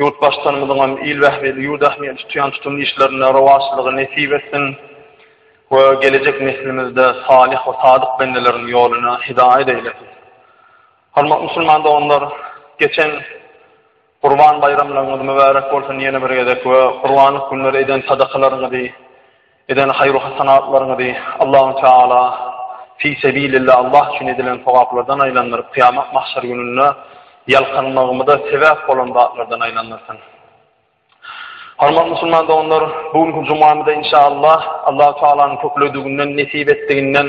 Ýurtbaşdanymyzyň hem il bähbidi, ýurt ähmiýeti tutýan tutumly işlerinde rowaçlygy nesip etsin we gelejek neslimizde salyh we sadyk bendeleriň ýoluna hidaýat eýlesin. Hormatly musulman doganlar, geçen Gurban baýramlaryňyz mübärek bolsun ýene bir gezek we gurbanlyk günleri eden sadakalaryňyzy Eden haýru hasanatlaryňyzy Allahu Teala fi sebilillah Allah üçin edilen sogaplardan aýlandyryp, kyýamat mahşer gününde ýalkanmagymyza sebäp bolan zatlardan aýlandyrsyn. Hormatly musulman doganlar, bu günki jumamyzda inşallah Allahu Tealanyň köpledigininden, nesip etdiginden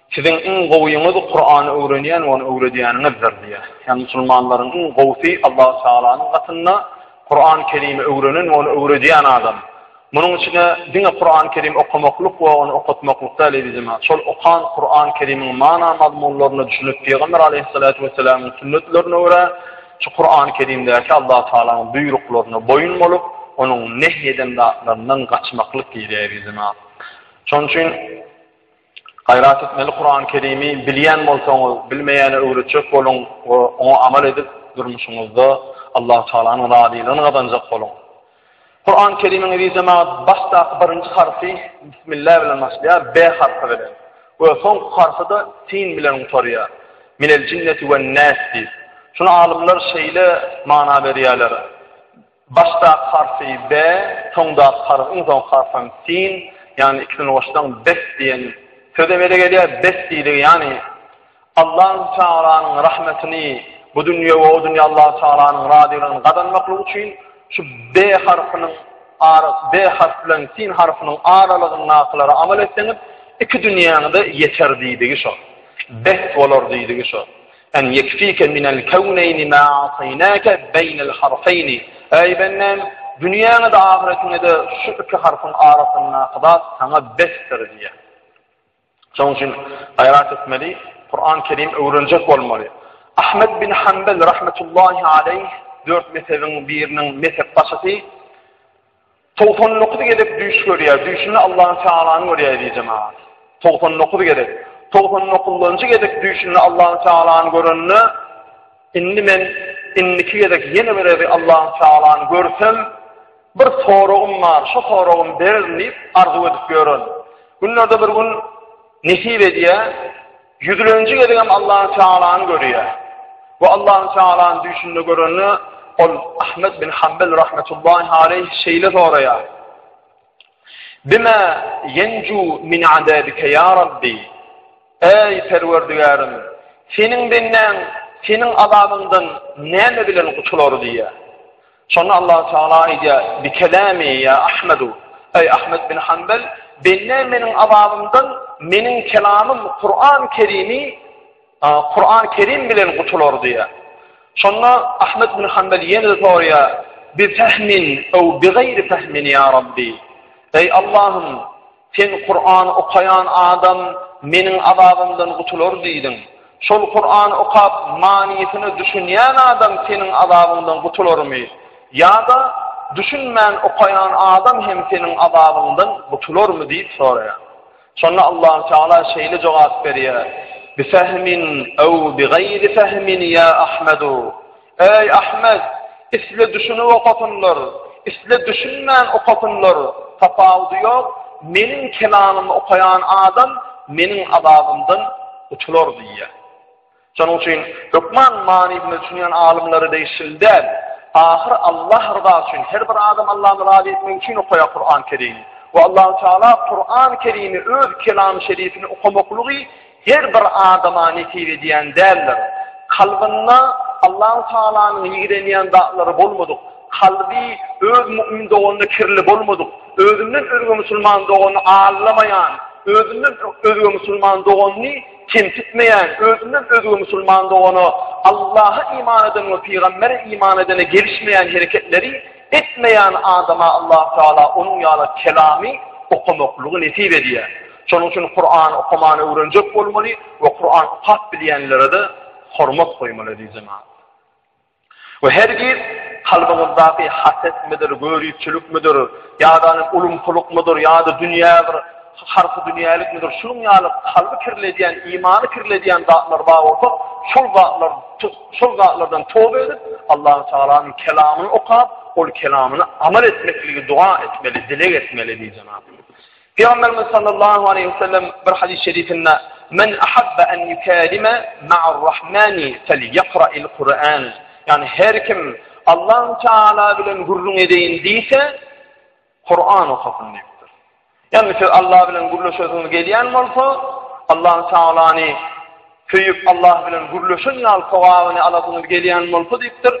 Siziň iň gowyňyz Kurany öwrenýän we ony öwredýäniňizdir diýýär. Ýagny musulmanlaryň iň gowusy Allahu Tagalanyň gatynda Kurany Kerimi öwrenen we ony öwredýän adam. Munuň içine diňe Kurany Kerim okamaklyk we ony okatmaklyk däl eziz jemagat, şol okan Kurany Kerimiň mana mazmunlaryna düşünip Pygamber Aleýhissalatu Wessalamyň sünnetlerine görä şu Kurany Kerimdäki Allahu Tagalanyň buýruklaryna boýun bolup onuň nehy eden zatlaryndan gaçmaklyk diýilýär eziz jemagat. Şonuň üçin Gaýrat etmeli Kurany Kerimi bilýän bolsaňyz bilmeýäne öwretjek boluň we oňa amal edip durmuşyňyzda Allahu Taalanyň razylygyny gazanjak boluň. Kurany Kerimiňizi jemagat başdaky birinji harpy Bismillah bilen başlaýar B harpy bilen we soňky harpyda Sin bilen gutarýar. Minel jinneti wen nas diýip. Şuna alymlar şeýle mana berýärler. Başdaky harpy be, soňdaky harp, iň soňky harp hem sin, ýagny ikisini goşsaň bes diýen söz emele gelýär. Bes diýdigi, ýagny Allahü Tealanyň rahmetini bu dünýä we o dünýä Allahü Tealanyň razylygyny gazanmaklyk üçin şu be harpynyň ara be harp bilen sin harpynyň aralygyndakylary amal etseňiz, iki dünýäňize ýeter diýdigi şo. Bes bolar diýdigi şo. En ýekfike minel kewneýni ma ataýnake beýnel harfeýni, Eý bendem, dünýäňe-de, ahyretiňe-de şu iki harpyň arasyndaky zat saňa besdir diýýär. Şonuň üçin gaýrat etmeli, Kuran Kerim öwrenjek bolmaly. Ahmet bin Hanbel rahmetullahi aleýh dört mezhebiň biriniň mezhepbaşysy 99 gezek düýş görýär. Düýşünde Allahu Tealany görýär diýip jemagat. 99 gezek. 99-njy gezek düýşünde Allahu Tealany görende indi men indiki gezek ýene bir gezek Allahu Tealany görsem bir soragym bar. Şu soragym berin diýip arzuw edip ýörün. Günlerde bir gün nesip edýär. Ýüzleniji gezegem Allahu Tealany görýär. Bu Allahu Tealany düşünde görende ol Ahmed bin Hanbel rahmetullahi aleyh şeýle soraýar. Bima yenju min adabika ya Rabbi? Ey Perwerdigarim, seniň benden, seniň azabyňdan näme bilen gutular diýýär. Şonda Allahu Teala aýdýar, Bi kelami ýa Ahmedu, eý Ahmet bin Hanbel, bende meniň azabymdan meniň kelamym Kuran Kerimi, Kuran Kerim bilen gutular diýýär. Şonda Ahmet bin Hanbel ýene soraýar, Bi fehmin ew bi gayri fehmin ýa Rabbi. Eý Allahym, Sen Kurany okaýan adam Meniň azabymdan gutular diýdiň. Şol Kurany okap, manysyna düşünýän adam Seniň azabyňdan gutularmy? Ýa-da düşünmän okaýan adam hem Seniň azabyňdan gutularmy diýip soraýar. Şonda Allahu Teala şeýle jogap berýär, Bifehmin ew bigeýri fehmin ýa Ahmedu. Eý Ahmet, isle düşünip okasynlar, isle düşünmän okasynlar, tapawudy ýok, meniň kelamymy okaýan adam meniň azabymdan gutular diýýär. Şonuň üçin hökman manysyna düşünýän alymlary degişli däl. Ahyr Allah rızasy üçin her bir adam Allah'a razy etmek üçin okaýar Kur'an-Kerim. Ve Allah Teala Kur'an-Kerimi öz kelam şerifini okamaklygy Her bir adama nesip edýän däldir. Kalbynda Allahu Tagalanyň ýigrenýän zatlary bolmadyk, kalby öz mu'min doganyna kirli bolmadyk, özünden özge musulman doganyny aldamaýan, özünden özge musulman doganyny kemsitmeýän, özünden özge musulman dogana Allaha iman eden we pygambere iman edene gelişmeýän hereketleri etmeýän adama Allah Tagala onuň ýaly kelamy okamaklygy nesip edýär. Şonuň üçin Kuran okamany öwrenjek bolmaly we Kuran okap bilýänlere-de hormat goýmaly eziz jemaat. We hergiz kalbyňyzdaky hasetmidir, göripçilikmidir, ýa-da ulumsylykmydyr, ýa-da dünýä bir Harpy dünýälikmidir, şunuň ýaly kalby kirledýän, imany kirledýän zatlar bar bolsa, şol zatlar, şol zatlardan toba edip, Allahu Tagalanyň kelamyny okap, ol kelamyny amal etmekligi dua etmeli, dileg etmeli diýip jenap. Peygamberimiz sallallahu aleyhi ve sellem bir hadis-i şerifinde Men ahabba en yukalime ma'ar rahmani fel yakra'il Kur'an. Yani her kim Allah Teala bilen gürrüň edeyin diyse, Kuran okasyn diýipdir. Ýagny siz Allah bilen gürleşesiňiz gelýän bolsa, Allahu Taalany söýüp Allah bilen gürleşen ýaly sogabyny alasyňyz gelýän bolsa diýipdir.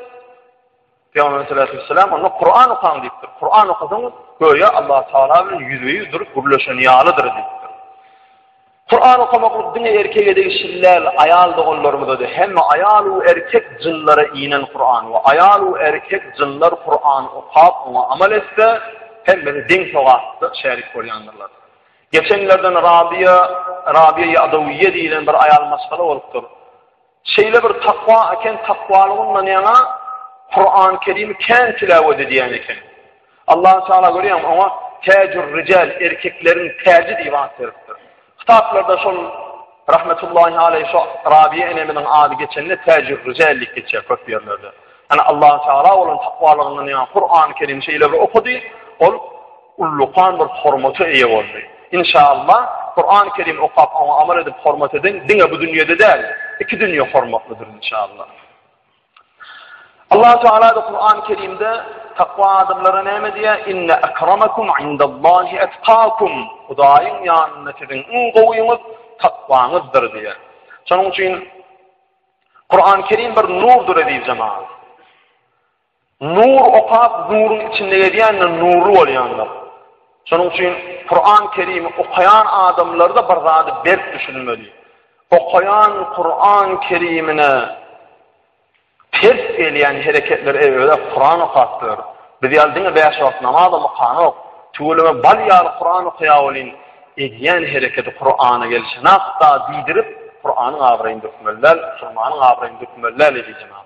Peygamber sallallahu aleyhi ve sellem onda Kur'an okan diýipdir. Kur'an okasaňyz göýä Allah Taala bilen ýüzbe-ýüz durup gürleşen ýalydyr diýipdir. Kuran okamaklyk diňe erkege degişli däl, aýal doganlarymyza-da, hemme aýal u erkek jynlara inen Kuran we aýal u erkek jynlar Kuran okap, oňa amal etse, hemmesi deň sogapda şärik bolýandyrlar. Geçenlerden Rabiýa, Rabiýa-i Adawiýýe diýilen bir aýal maşgala bolupdyr. Şeýle bir takwa eken, takwalygyndan ýaňa Kur'an-ı Kerim'i kän tilawet edýän eken. Allah Teala görýän oňa Tejur Rical erkekleriň täji diýip at beripdir. Kitaplarda şol rahmetullahi aleyh şu Rabiye enemizin adı geçende Tejur Rical diýip geçýär köp ýerlerde. Yani Allah Teala olan takwalygyndan ýaňa Kur'an-ı Kerim şeýle bir okudy, ol ullakan bir hormata eýe boldy. Inşaallah, Kurany Kerim okap, oňa amal edip hormat eden diňe bu dünýede däl, iki dünýe hormatlydyr inşaallah. Allahu Teala da Kurany Kerimde takwa adamlara näme diýýär? Inne akramakum indallahi atqakum. Hudaýyň ýanynda siziň iň gowyňyz takwaňyzdyr diýýär. Şonuň üçin Kur'an-ı Kerim bir nurdur eziz cemaat. Nur okap nuruň içinde gezýänler nurly bolýandyr. Şonuň üçin Kuran Kerimi okaýan adamlarda bir zady berk düşünmeli. Okaýan Kuran Kerimine ters gelýän hereketler eý öýe Kuran okap dur. Biz ýaly diňe bäş wagt namaz okanak. Tüweleme bal ýaly Kuran okaýa welin edýän hereketi Kurana gelşenakda diýdirip Kuranyň abraýyny dökmeli däl, musulmanyň abraýyny dökmeli däl eziz jenap.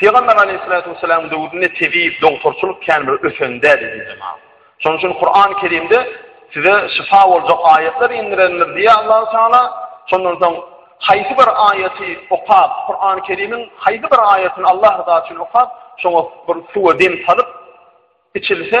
Pygamber aleýhissalatu wessalam döwründe tebip, dogturçylyk kän bir ösen däldi diýip jemap. Şonuň üçin Kur'an Kerimde size şyfa boljak aýatlar indirendir diýýär Allahu Teala. Şondan soň haýsy bir aýaty okap, Kur'an Kerimiň haýsy bir aýatyny Allah rızasy üçin okap, şoňa bir suwa dem salyp içilse,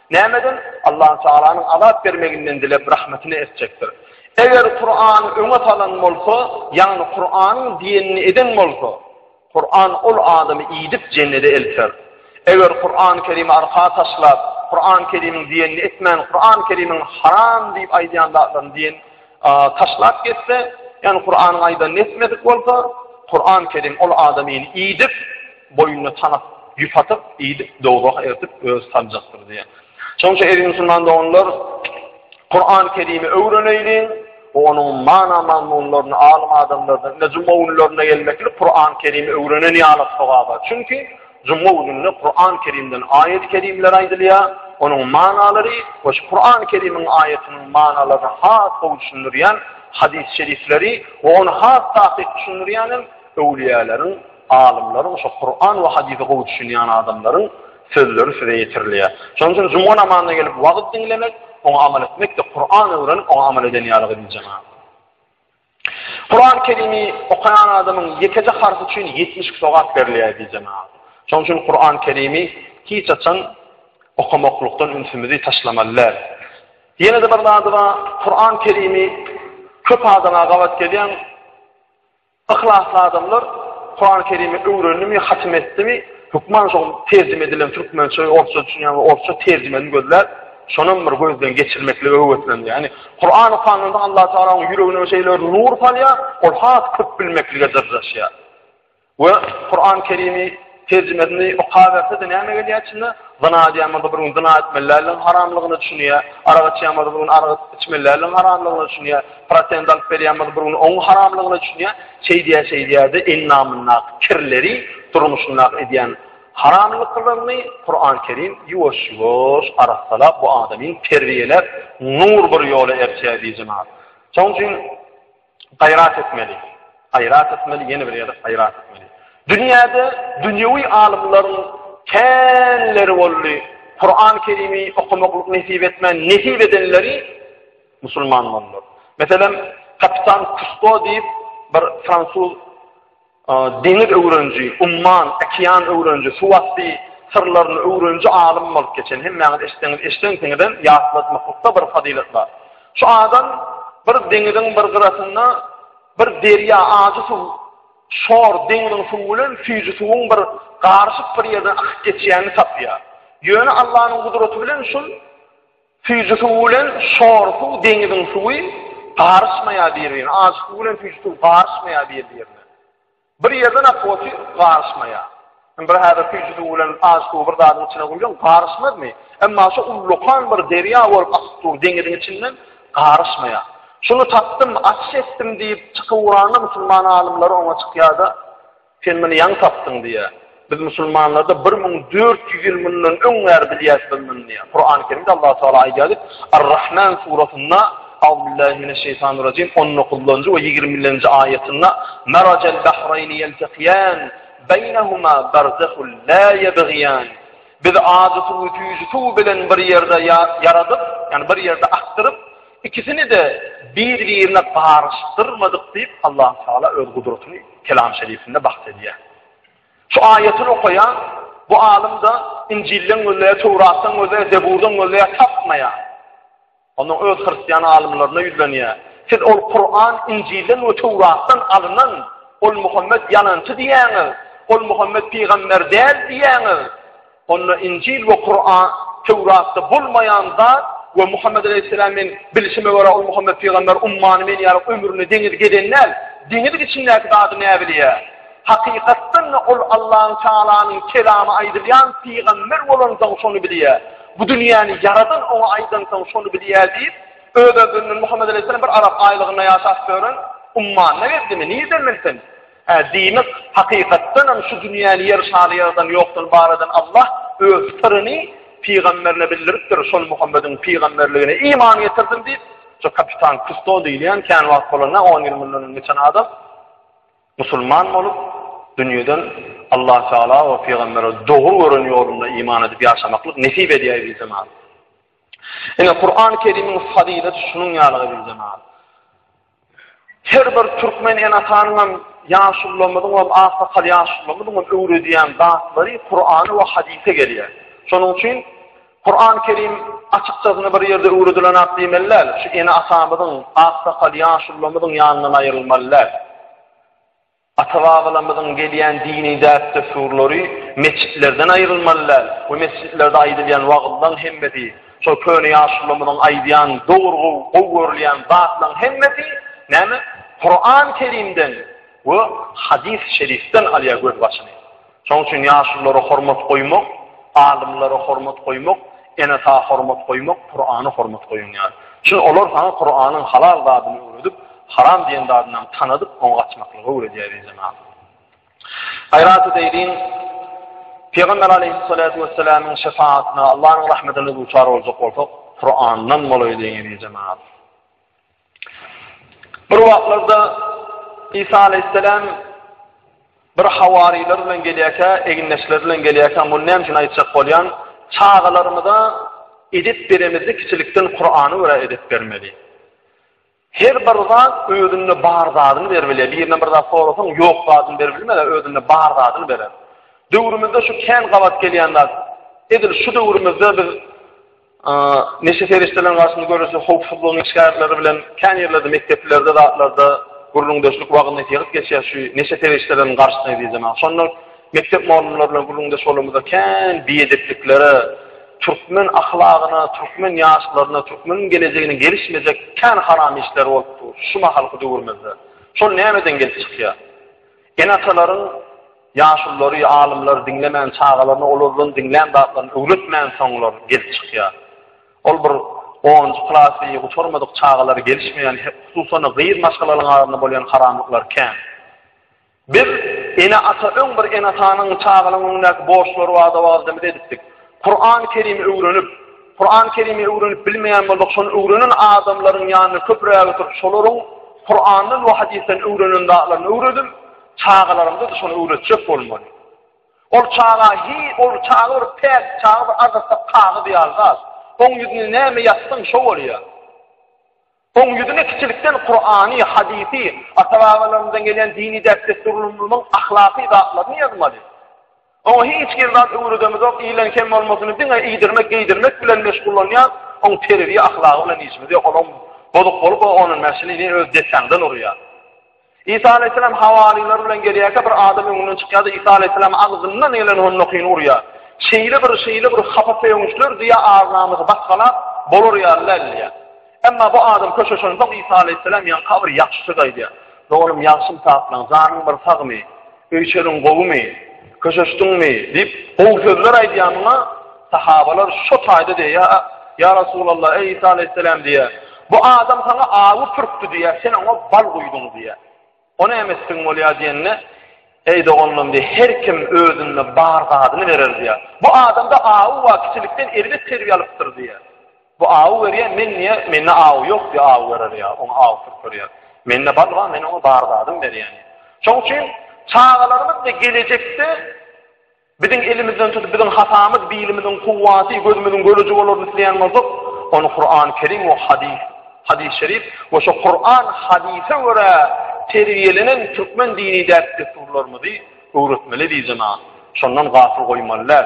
Nämeden? Allahu Tagalanyň azap bermeginden dilep rahmatyny etjekdir. Eger Kurany öňe salan bolsa, ýagny Kuranyň diýenini eden bolsa, Kuran ol adamy iýdip jennede elter. Eger Kurany Kerimi arka taşlap, Kurany Kerimiň diýenini etmän, Kurany Kerimiň haram diýip aýdýan zatlaryny diýen taşlap getse, ýagny Kuranyň aýdanyny etmedik bolsa, Kurany Kerim ol adamy iýdip Boýnuna tanap, ýüp atyp, iýdip, dowzaha eltip, özi saljakdyr diýýär. Şonuň üçin, eziz musulman doganlar, Kurany Kerimi öwreneýliň we onuň mana-mazmunlaryny alym adamlardan, ine, juma günlerine gelmeklik Kurany Kerimi öwrenen ýaly sogaba. Çünki, juma gününde Kurany Kerimden aýat-y kerimler aýdylýar, onuň manalary we şu Kurany Kerimiň aýatynyň manalaryny has gowy düşündirýän hadys-şerifleri we ony has takyk düşündirýän hem öwlüýäleriň Alymlar bolsa Kuran we hadise gowy düşünýän adamlaryň sözleri size ýetirilýär. Şonuň üçin juma namazyna gelip wagyz diňlemek, oňa amal etmekde Kuran öwrenip oňa amal eden ýaly gyzyl jemagat. Kuran Kerimi okaýan adamyň ýekeje harpy üçin 72 sogap berilýär diýip jemagat. Şonuň üçin Kuran Kerimi hiç açan okamaklykdan ünsümizi taşlamaly däl. Ýene-de bir zady bar, Kuran Kerimi köp adama gabat gelýän Yhlasly adamlar Kurany Kerimi öwrendimi, hatym etdimi, hökman şol terjime edilen türkmençe we orsça düşünýän we orsça terjimesini gözläp, şonam bir gözden geçirmeklige höweslenýär. Ýagny Kurany okanynda Allah Taala onuň ýüregine şeýle bir nur salýar, ol has köp bilmeklige dyrjaşýar. We Kurany Kerimi Terjimesini okaberse-de näme gelýär içine? Zyna edýänmada bir gün zyna etmelileriň haramlygyna düşünýär. Arak içýänmada bir gün arak içmelileriň haramlygyna düşünýär. Prosent alyp berýänmada bir gün oň haramlygyna düşünýär. Şeýdýär-şeýdýär-de endamyndaky kirleri durmuşynda edýän haramlyklaryny Kuran Kerim ýuwaş-ýuwaş arassalap bu adamy terbiýeläp nur bir ýola erçäýär diýjemär. Şoň üçin Gaýrat etmeli. Gaýrat etmeli, ýene bir gezek gaýrat etmeli. Dünýäde dünýewi alymlaryň känleri boldy. Kur'an-ı Kerim'i okumaklyk nesip etmän, nesip edenleri musulman boldular. Meselem, kapitan Kusto diýip, bir fransuz Deňiz öwreniji, umman, okean öwreniji, suwasty syrlaryny öwreniji alym bolup geçen, hemmäňiz eşitseňiz, eşdensiňizem, ýatlatmaklykda bir fazylat bar. Şu adam bir deňiziň bir gyrasynda bir derýa, ajy suw, şor, deňiziň suwy bilen süýji suwuň bir garyşyk bir ýerden akyp geçýänini tapýar. Ýöne Allanyň gudraty bilen şul Süýji suw bilen şor suw deňiziň suwy garyşmaýar bir-birine. Ajy suw bilen süýji suw garyşmaýar bir-birine. Bir ýerden ak oty garyşmaýar. Indi bir häzir süýji suw bilen ajy suwy bir zadyň içine guýsaň garyşmazmy? Emma şu ullakan bir derýa bolup akyp dur deňiziň içinden garyşmaýar. Şuny tapdym, açyş etdim diýip çykyp uranda musulman alymlary oňa çykýar-da, Sen muny ýaňy tapdyň diýýär. Biz musulmanlarda bir müň dört ýüz ýyl mundan öň bäri bilýäs biz muny diýýär. Kurany Kerimde Allah Tagala aýdýar diýip, Ar-Rahman surasynda, Auzubillahi mineşşeýtanirrajim, on dokuzynjy we ýigrimi birinji aýatynda, Merajal bahraýni ýeltekiýan, beýnehuma berzehul la ýebgiýan. Biz ajy suwy süýji suw bilen bir ýerde ýaradyp, ýagny bir ýerde akdyryp, Ikisini-de bir-birine garyşdyrmadyk diýip, Allahu-Taala öz gudratyny Kelamy Şerifinde bahs edýär. Şu aýatyny okaýan bu alym-da Injilden gözleýär, Töwratdan gözleýär, Zeburdan gözleýär, tapmaýar. Onda öz hristian alymlaryna ýüzlenýär. Siz ol Kuran Injilden we Töwratdan alynan, ol Muhammet ýalançy diýýäňiz, ol Muhammet pygamber däl diýýäňiz. Onda Injil we Kuran, Töwratda bolmaýan zat we Muhammed aleýhissalam men bilşime görä ol Muhammed pygamber ummany men ýaly ömründe deňiz gezen däl. Deňiziň içindäki zady näbilýä? Hakykatdan da ol Allahyn Taalanyň kelamy aýdylýan pygamber bolansoň şony bilýä. Bu dünýäni ýaradan oňa aýdansoň şony bilýä diýip, öz-özünden Muhammed aleýhissalam bir arap aýlygynda ýaşap ýören ummanyna geldimi? Nirden bilsin? Hä, diýmek, hakykatdanam şu dünýäni ýer şaly ýaradan ýokdan bar eden Allah Öz syryny pygamberine bildiripdir, şol Muhammediň pygamberligine iman getirdim diýip, şu kapitan Kusto diýilýän kän wagt bolanda, on ýyl mundan öň geçen adam musulman bolup, dünýeden Allah Taala we pygambere dogry gören ýolunda iman edip ýaşamaklyk nesip edýär diýip jemagat. Ine Kur'an-Kerimiň fazylaty şunuň ýaly diýip jemagat. Her bir türkmen enatanyňam, ýaşulularymyzyňam, aksakal ýaşulularymyzyňam öwredýän zatlary Kurana we hadise gelýär. Şonuň üçin Kuran Kerim açykçasyna bir ýerde öwredilen zat diýmeli däl, şu ene-atamyzyň, aksakal ýaşulularymyzyň ýanyndan aýrylmaly däl. Ata-babalarymyzyň gelýän dini däp-dessurlary metjitlerden aýrylmaly däl we metjitlerde aýdylýan wagyzlaň hemmesi, şol köne ýaşulularymyzyň aýdýan dogry gowy görülýän zatlaň hemmesi näme Kuran-Kerimden we hadys-şerifden alýar gözbaşyny. Şonuň üçin ýaşulylara hormat goýmak, alymlara hormat goýmak, ene-ata hormat goýmak, Kurana hormat goýun ýaly. Çünki olar saňa Kuranyň halal zadyny öwredip, haram diýen zadyny hem tanadyp, oňa gaçmaklygy öwredýär diýip ýazýar. Gaýrat edeýin, Pygamber aleýhissalatu wessalamyň şefaatine, Allahyn rahmetine duçar boljak bolsak, Kurandan bolaýlyň diýip ýazýar. Bir wagtlarda Isa aleýhissalam bir hawarylar bilen gelýärkä, egindeşler bilen gelýärkä, muny näme üçin aýtjak bolýan? Çagalarymyza edip beremizde kiçilikden Kur'an'ı göre edip bermeli. Her bir zat özünde bar zadını bermeli. Birine bir zat sorasyn, yok zadını bermeli, özünde bar zadını berer. Dövrümüzde şu kän gabat gelýän zat. Edil şu dövrümüzde biz Neşe serişdeleriniň garşysyna göreşmek howpsuzlygynyň şikayetleri bilen kän ýerlerde mekdeplerde zatlarda gürrüňdeşlik wagyz-nesihat geçýär şu neşe serişdeleriniň garşysyna diýjek. Şonda mekdep mugallymlary bilen gürrüňdeş bolanymyzda kän biedeplikleri, türkmen ahlagyna, türkmen ýaşlaryna, türkmeniň gelejegine gelişmejek kän haram işler bolup dur şu mahalky döwrümizde. Şol nämeden gelip çykýar? Ene-atalaryň ýaşululary, alymlary diňlemän, çagalaryna olardan diňlän zatlaryny öwretmän soňlar gelip çykýar. Ol bir onunjy klasy gutarmadyk çagalary gelişmeýän, hususan-da gyz maşgalalaryň arasynda bolýan haramlyklar kän. Biz ene-ata öň bir ene-atanyň çagalaryň öňündäki borçlary barada wagzymyzy edipdik. Kur'an-ı Kerim'i öwrenip, Kur'an-ı Kerim'i öwrenip bilmeýän bolsak, şonu öwrenen adamlaryň ýanyna köpräk oturyp, şolaryň Kur'andan we hadisden öwrenen zatlaryny öwredip, çagalarymyza da şonu öwretjek bolmaly. Ol çaga hi, ol çaga bir päk, çaga bir azatda kagyz ýaly zat. Oň ýüzüne näme ýazsaň, şo bolýar. Oň ýüzüne kiçilikden Kurany, hadysy, ata-babalarymyzdan gelen dini däp-dessurlarymyzyň ahlaky zatlaryny ýazmaly. Oňa hiç hili zat öwredemizok, ilen kem bolmasyny diňe iýdirmek, geýdirmek bilen meşgullanýas, oň terbiýe-ahlagy bilen işimiz ýok, olam bozuk bolup, o onun mäşini ne öz depäňden urýar. Isa aleýhissalam hawarylar bilen gelýärkä bir adam öňünden çykýar-da Isa aleýhissalam agzyndan gelen honnokyny urýar. Şeýle bir, şeýle bir hapa söýünçler diýýär, agnamyzy basgalap, bolar ýaly däl diýýär. Emma bu adam köşeşen soň Isa aleýhissalam ýaňky bir ýagşy söz aýdýar. Doganym ýagşym saplaň, janyň bir sagmy? Öýçeriň gowumy? Köşeşdiňmi? diýip, gowy sözler aýdýanyna sahabalar şo taýda diýýär, Ýa Resulallah, eý Isa aleýhisselam diýýär, bu adam saňa awy pürkdi diýýär, sen oňa bal guýduň diýýär. O näme etdigiň bolýar diýende, Eý doganlarym diýýär, her kim özünde bar zadyny berer diýýär. Bu adamda awy bar, kiçilikden erbet terbiýe alypdyr diýýär. Bu awy berýär, men niýe, mende awy ýok diýip awy berer ýa oňa aw sürkürýär. Mende bar bar, men oňa bar zadymy berýän. Şoň üçin çagalarymyz we gelejekde biziň elimizden tutup biziň hatamyz, bilimiziň kuwwaty, gözümiziň göreji bolaryny isleýän bolsak, ony Kuran Kerim we hadys, hadys şerif we şo Kuran hadysa görä terbiýelenen türkmen dini däp dessurlarymyzy öwretmeli diýjena. Şondan gafyl goýmaly däl.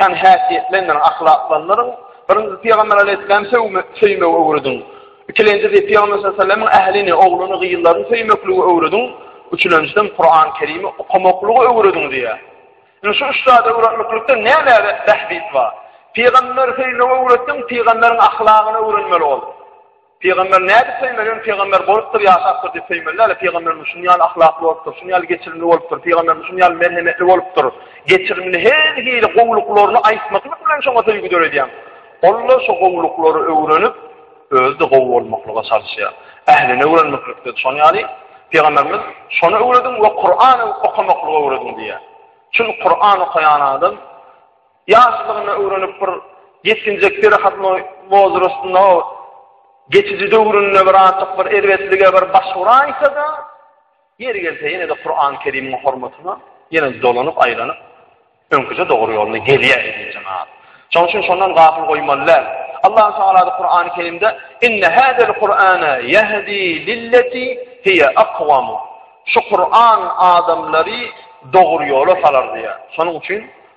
Ýagny häsiýetlendirin, ahlaklandyryň. Birinjisi Pygamber Aleyhisselam söýmegi öwrediň. Ikilenjisi Pygamber Sallallahu ählini, ogluny, gyzlaryny söýmekligi öwrediň. Üçülenjiden Kur'an Kerimi okamaklygy öwrediň diýýär. Indi şu üç zady öwretmeklikde näme bähbit bar? Pygamber söýmegi öwretdiň, pygamberiň ahlagyny öwrenmeli bolduň. Pygamber nädip peýmelin pygamber bolupdyr ýaşapdyr diýip peýmelläle pygamberimiz şuny ýaly ahlakly bolupdyr şuny ýaly geçirimli bolupdyr pygamberimiz şuny ýaly merhemetli bolupdyr geçirimli her hili gowluklaryny aýtmaklyk bilen şoňa söýgi döredýäň onda şu gowluklary öwrenip özde gowy bolmaklyga çalyşýar ähline öwrenmeklikde şoň ýaly pygamberimiz şony öwrediň we kurany okamaklygy öwrediň diýýär çünki kurany okaýan adam Ýaşlygyna öwrenip bir ýetginjek perehatnoý wozrastynda o geçiji döwründe bir azjyk bir erbetlige bir baş uraýsa-da, ýeri gelse ýene-de Kuran Kerimiň hormatyna ýene dolanyp aýlanyp öňküje dogry ýoluna gelýär diýip jemap. Şoň üçin şondan gafyl goýmaly däl. Allah Taala da Kurany Kerimde inne hadal Kur'ana yahdi lillati hiya aqwam. Şu Kur'an adamlary dogry ýola salar diýär. Şonuň üçin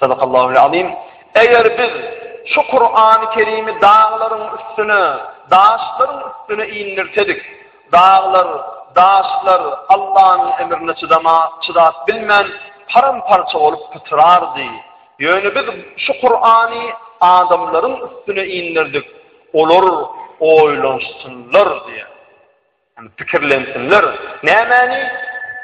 Sadakallahu'l Azim. Eger biz şu Kur'an-y Kerimi daglaryň üstüne, daşlaryň üstüne indirsedik, daglar, daşlar Allah'yň emrine çydama, çydap bilmän, param parça bolup pytrardy. Ýöne biz şu Kur'an-y adamlaryň üstüne indirdik. Olar oýlanşsynlar diýen. Pikirlensinler, nämäni?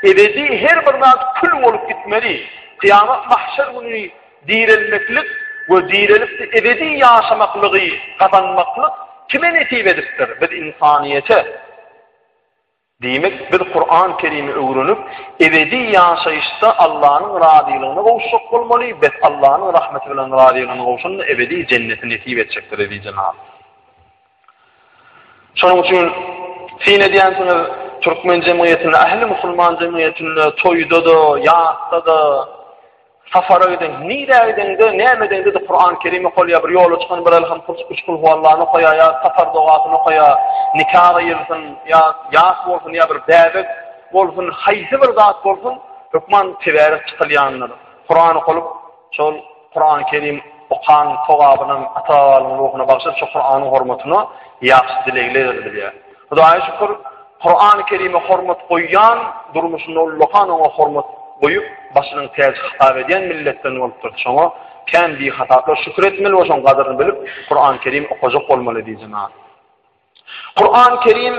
Ebedi her bir zat kül bolup gitmeli. Kyýamat mahşer güni direlmeklik we direlip-de ebedi ýaşamaklygy gazanmaklyk kime nesip edipdir? Biz ynsanyýete. Diýmek, biz Kuran-Kerimi öwrenip, ebedi ýaşaýyşda Allanyň razylygyna gowuşjak bolmaly, bes, Allanyň rahmeti bilen razylygyna gowşanda ebedi jenneti nesip etjekdir, eziz jenap. Şonuň üçin syn edýänsiňiz, türkmen jemgyýetinde, ähli musulman jemgyýetinde toýda-da, ýasda-da, sapara giden, nirä gideňde, näme edeňde-de Kuran Kerim okalýar, bir ýola çykan bir älham kul, üç kul huwallany okaýar ýa sapar dogasyny okaýar, nika gyýylsyn, ýa ýas bolsun, ýa bir bäbek bolsun, haýsy bir zat bolsun, hökman tebiga çykylýandyr. Kuran okalyp, şol Kurany Kerim okan sogabynam ata babalyň ruhuna bagşydyp şu Kuranyň hormatyna ýagşy dilegler edilýär. Hudaýa şükür Kurany Kerime hormat goýýan durmuşynda ullakan oňa hormat goýup başynyň täji hasap edýän milletden bolupdyr. Şoňa kän bihataplar şükür etmeli we şoň gadyryny bilip Kurany Kerim okajak bolmaly diýjemän. Kur'an-ı Kerim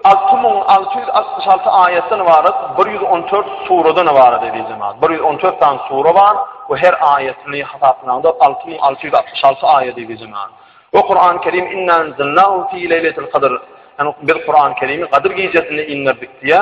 6666 aýatdan ybarat, 114 suradan ybarat edil jemaat. 114 tan sura bar we her aýatyny hasaplanyňda 6666 aýat edil jemaat. We Kur'an-ı Kerim inna anzalnahu fi leýletil qadr. Yani biz Kur'an-ı Kerimi Kadyr gijesinde indirdik diýä.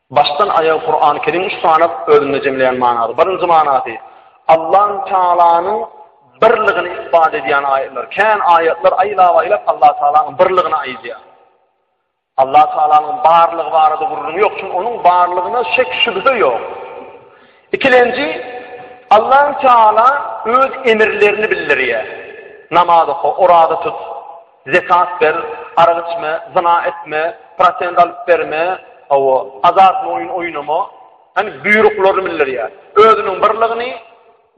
Başdan aýaga Kurany Kerim üç sany özünde jemleýän manasy. Birinji manasy, Allahü Tealanyň birligini isbat edýän aýatlar. Kän aýatlar aýlap-aýlap Allahü Tealanyň birligini aýdýar. Allahü Tealanyň barlygy barada gürrüň ýok, çünki onuň barlygyna şek şübhe ýok. Ikilenji, Allahü Teala öz emirlerini bildirýär. Namaz oka, oraza tut. Zekat ber, arak içme, zyna etme, prosent alyp berme, hawa, azartly oýun oýnama, hany buýruklary bildirýär. Özüniň birligini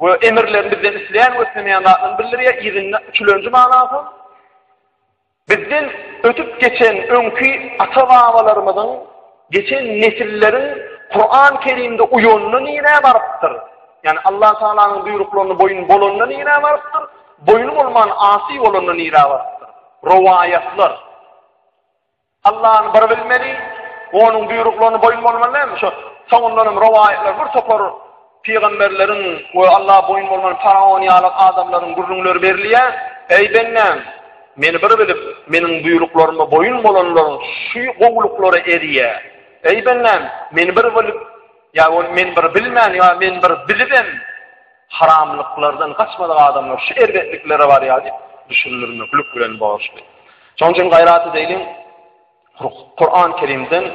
we emirlerini bizden isleýän we islemeýän zatlaryny bildirýär, yzynda üçlenji manasy bizden ötüp geçen öňki ata-babalarymyzyň, geçen nesilleriň Kuran-Kerimde uýanyny nirä barypdyr? Ýani Allah Taalanyň buýruklaryny boýun bolanyny nirä barypdyr? Boýny bolman asy bolanda nirä barypdyr? Rowaýatlar. Allany bir bilmeli, onuň buýruklaryna boýun bolmaly näme? Şo soňundan hem rowaýatlar bir topar pygamberleriň we Alla boýun bolman faraon ýaly adamlaryň gürrüňleri berilýär. Eý bendäm, meni bir bilip, meniň buýruklaryma boýun bolanlaryň şu gowulyklary erýä. Eý bendäm, meni bir bilip, ýa ol men bir bilmän, ýa men bir bilibem, Haramlyklardan gaçmadyk adamlar şu erbetliklere barýar diýip, düşündirmeklik bilen borçly. Şonuň üçin gaýrat edeýliň, Kuran Kerimden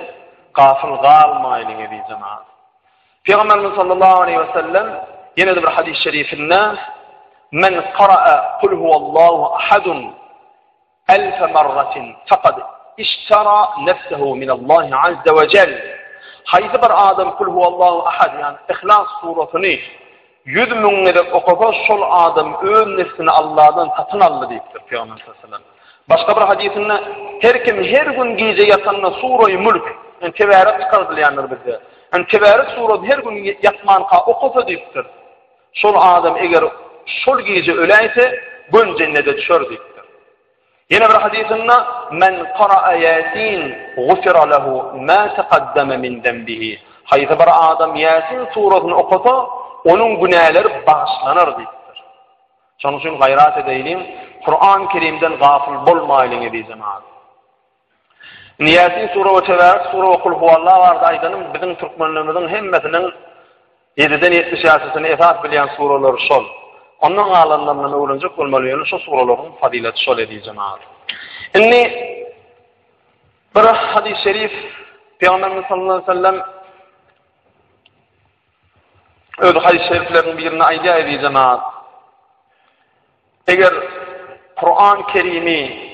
gafil galmaýlyň eziz jemaat. Pygamberimiz sallallahu aleyhi ve sellem ýene bir hadis-i şerifinde men qara'a kul huwallahu ahadun Elfe marratin faqad iştara nefsehu min Allahi azze ve cel. Haýsy bir adam kul huwallahu ahad ýan ihlas suratyny ýüz müň gezek okasa şol adam öz nefsini Allahdan satyn aldy diýipdir Peygamber sallallahu Başga bir hadisinde her kim her gün gije ýatanda suraýy mülk yani tebarek çykardylýandyr bizde. Yani tebarek suraty her gün ýatmanka okasa diýipdir. Şol adam eger şol gije öläýse, göni jennete düşer diýipdir. Ýene bir hadysynda men qara'a yasin gufira lehu ma taqaddama min dambihi. Haýsy bir adam Yasin surasyny okasa, onuň günäleri bagyşlanar diýipdir. Şonuň üçin gaýrat edeýliň, Kur'an-Kerimden gafil bolmaýlyň eziz jemaat. Indi Ýasin sure we Tebarak sure we Kul huwalla barada aýdanym, biziň türkmenlerimiziň hemmesiniň ýediden ýetmiş ýaşysyny esas bilýän surelary şol. Ondan galanlaryndan öwrenjek bolmaly, ýöne şu sureleriň fazylaty şol eziz jemagat. Indi bir hadys şerif Peygamberimiz sallallahu aleyhi ve sellem öz hadis-i şeriflerinin birinde aýdýar eziz jemaat. Eger Kuran Kerimi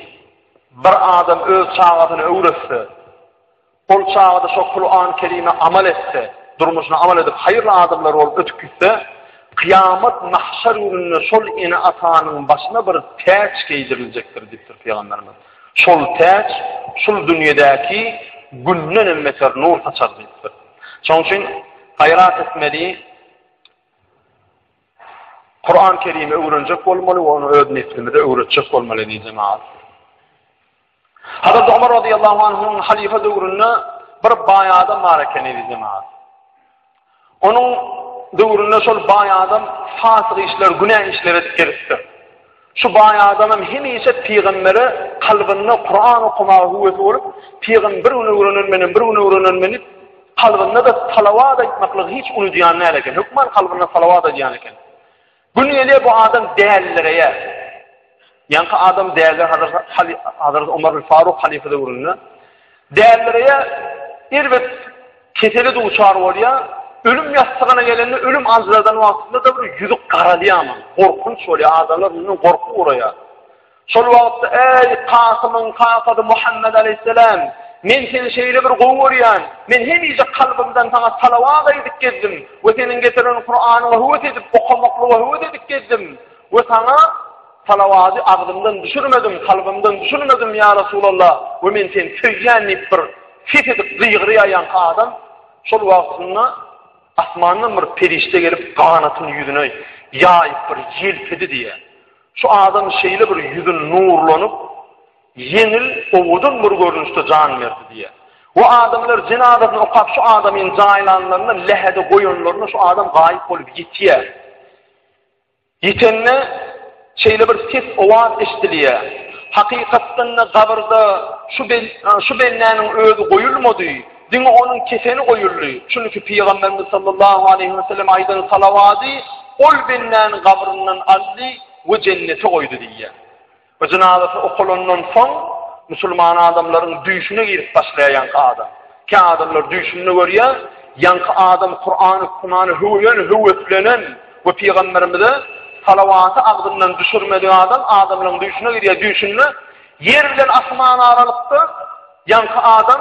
bir adam öz çagasyna öwretse, ol çagada şo Kuran Kerime amal etse, durmuşuna amal edip, hayırlı adamlar olup ötüp gitse, kıyamet mahşar gününde şol ene atanın başına bir täç geydirilecektir, diptir Peygamberimiz. Şol täç, şul dünyedeki günden emmeter nur saçar, diptir. Şoň üçin hayrat etmeli, Kur'an Kerimi öwrenjek bolmaly we ony öz neslimize öwretjek bolmaly diýip jemaat. Hazrat Umar radiyallahu anh'un halife döwründe bir baý adam bar ekeni diýip jemaat. Onuň döwründe şol baý adam fasyk işler, günä işler edip gelipdir. Şu baý adamam hemişe pygambere kalbynda Kuran okamaga höwesi bolup, pygam bir gün öwrenenmenem, bir gün öwrenenmeni kalbynda da salawat aýtmaklygy hiç unudýan däl eken. Hökman kalbynda salawat aýdýan eken. Gün gelýär bu adam dällireýär. Ýaňky adam däli Hazrat Hazrat Omar bin Faruk halife döwründe Dälireýär, erbet kesele duçar bolýar, ölüm ýassygyna gelende ölüm aljyradan wagtynda-da bir ýüzi garalýarmy, gorkunç bolýar, adamlar mundan gorkup ugraýar. Şol wagtda, Äý, Kasymyň kakasy Muhammet aleýhissalam, men seni şeýle bir gowy görýän, men hemişe kalbymdan saňa salawat aýdyp gezdim we seniň getiren Kuranyňy höwes edip okamaklygy höwes edip gezdim we saňa Salawady agzymdan düşürmedim, kalbymdan düşürmedim, ýa Resulalla, we men seni söýýän diýip bir ses edip gygyrýaýanka adam, şol wagtynda asmandan bir perişde gelip ganatyny ýüzüne ýaýyp bir ýelpedi diýýär. Şu adam şeýle bir ýüzi nurlanyp, ýeňil, owadan bir görnüşde jan berdi diýýär. We adamlar jenazasyny okap şu adamyň jaýlanlaryny lähede goýanlaryna şu adam gaýyp bolup ýitýär. Ýitende şeýle bir ses owaz eşdilýär. Hakykatdan-da gabyrda şu bendäniň özi goýulmady, diňe onuň kefeni goýuldy. Çünki Pygamberimiz sallallahu aleýhi we sellem aýdan salawady ol bendäni gabryndan aldy we jennete goýdy diýýär. Bu jynazasy okalandan soň musulman adamlaryň düýşüne girip başlaýar ýaňky adam. Kä adamlar düýşünde görýär, ýaňky adam Kurany okumany höwülen, höweslenen we pygamberimize salawaty agzyndan düşürmedik adam adamlaryň düýşüne girýär, düýşünde ýer bilen asman aralykda ýaňky adam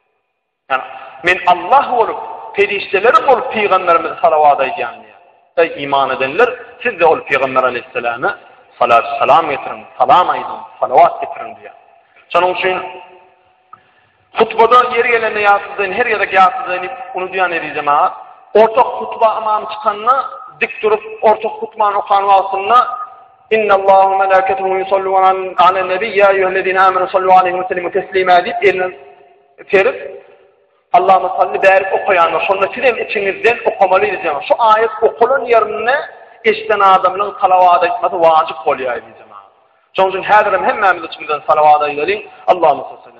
Men Allah bolup, perişdeleriň bolup pygamberimize salawat aýdýan diýýär. Eý iman edenler, siz-de ol pygamber aleýhissalama salat salam getiriň, salam aýdyň, salawat getiriň diýýär. Şonuň üçin hutbada ýeri gelende ýasyzdyň, her gezek ýasyzdyň diýip unudýan eziz jemagat. Orta hutba imam çykanda dik durup, orta hutbany okan wagtynda Inna Allaha wa malaikatahu yusalluna ala nabiy ya eyyuhallazina amanu sallu alayhi wa sallimu taslima dip elini serip Allahumma salli barik okaýan şonda siz hem içiňizden okamaly diýen şu aýat okalan ýerinde eşden adamyň salawat aýtmasy wajyp bolýar diýen. Şonuň üçin häzir hem hemmämiz içimizden salawat aýdalyň. Allahumma salli